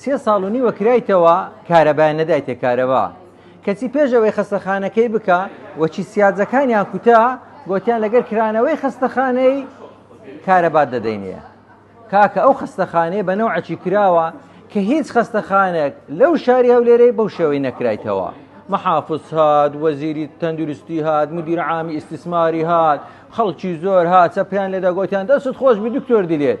سێ ساڵ و نیوە کرایتەوە کارەبایان نەدایتە کارەبا کەچی پێش ئەوەی خەستەخانەکەی بکە وەچی سیاجەکانیان کوتا گۆتیان لەگەر کرانەوەی خەستەخانەی کارەبات دەدەینە کاکە ئەو خەستەخانەیە بە نەوعەکی کراوە کە هیچ خەستەخانێک لەو شاری هەولێرەی بەو شێوەی نەکرایتەوە محافظ هات وەزیری تەندروستی هات مدیر عامی ئیسیسماری هات خەڵکی زۆر هاچە پێیان لێدا گۆتیان دەست خۆش بی دکتۆر دلێت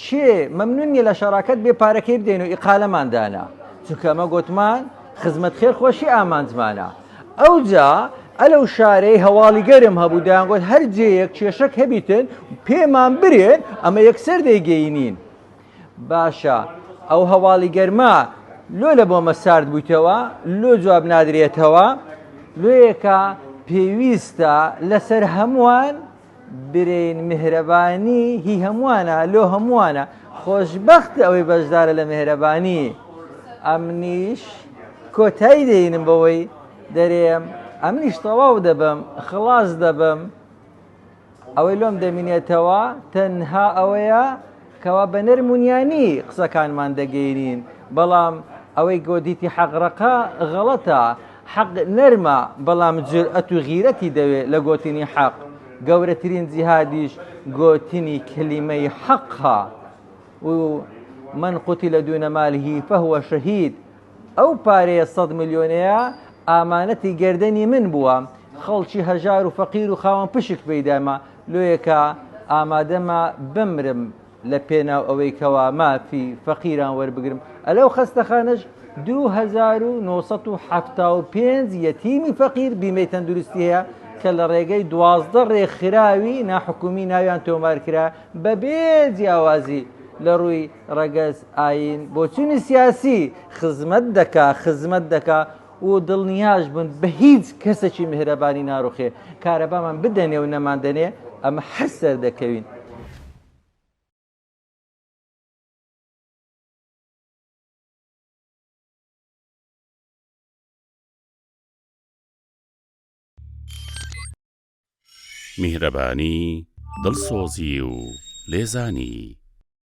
کێ مەمنون نیە لە شەراکەت بێ پارەکەی بدەین و ئیقالەمان دانا چونکە ئەمە گۆتمان خزمەت خێر خۆشی ئامانجمانە ئەوجا ئەلە و شارەی هەواڵی گەرم هەبوو دەیانگوت هەر جێیەک کێشەک هەبیتن پێمان برێن ئەمە یەکسەر دەیگەینین باشە ئەو هەواڵی گەرما لۆ لە بۆمە سارد بوویتەوە لۆ جواب نادرێتەوە لۆیەکە پێویستە لەسەر هەمووان برێن مهرەبانی هی هەمووانە لۆ هەمووانە خۆشبەخت ئەوەی بەشدارە لە مهرەبانی ئەمنیش کۆتایی دێنم بەوەی دەرێم ئەمنیش تەواو دەبم خلاص دەبم ئەوەی لۆم دەمینێتەوە تەنها ئەوەیە کەوا بە نەرم و نیانی قسەکانمان دەگەینین، بەڵام ئەوەی گۆدیتی حەق ڕەقە غەڵەتە، حەق نەرمە بەڵام جورئەت و غیرەتی دەوێ لە گۆتنی حەق، گەورەترین جیهادیش گۆتنی کلیمەی حەقە و من قوتل دون ماله فهو شهید، ئەو پارەیە سەد ملیۆنەیە ئامانەتی گەردەنی من بووە، خەڵکی هەژار و فەقیر و خاوەن پشک پێی دایمە، لۆیە کە ئامادەمە بمرم لە پێناو ئەوەی کەوا مافی فەقیران وەربگرم، لەو خەستەخانەش دوو هەزار و نۆ سەد و حەفتا و پێنج یەتیمی فەقیر بیمەی تەندروستی هەیە کە لە ڕێگەی دوازدە ڕێکخراوی ناحکومی ناویان تۆمار کرا، بەبێ جیاوازی لە ڕووی ڕەگەز، ئایین، بۆچوونی سیاسی، خزمەت دەکا، خزمەت دەکا و دڵنیاش بن بە هیچ کەسەکی میهرەبانی ناروخێ، کارەبامان بدەنێ و نەماندەنێ ئەمە هەر سەردەکەوین. میهرەبانی، دڵسۆزی و لێزانی.